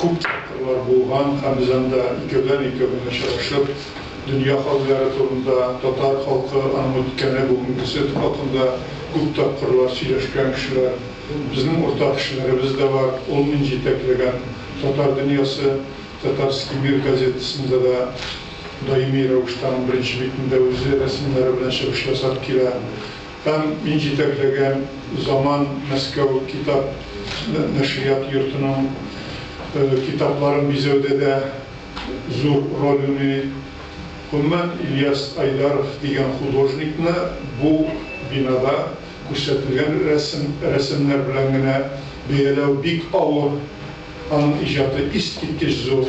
Күп тапкырлар булган һәм без анда икәүдән-икәү генә очрашып, дөнья хәлләре турында, татар халкы, аның үткәне, бүгенгесе хакында күп тапкырлар сөйләшкән кешеләр. Безнең уртак кешеләребез дә бар. Ул мин җитәкләгән Татар дөньясы, Татарский мир газетасында да даими рәвештә аның беренче битендә үзе рәсемнәре белән чыгыш ясап килә. Һәм мин җитәкләгән Заман Мәскәү китап нәшрият йортының китапларын бизәүдә дә зур роль уйный. Гомумән, Ильяс Айдаров дигән художникны бу бинада күрсәтелгән рәсемнәр белән генә бәяләү бик авыр, аның иҗаты искиткеч зур.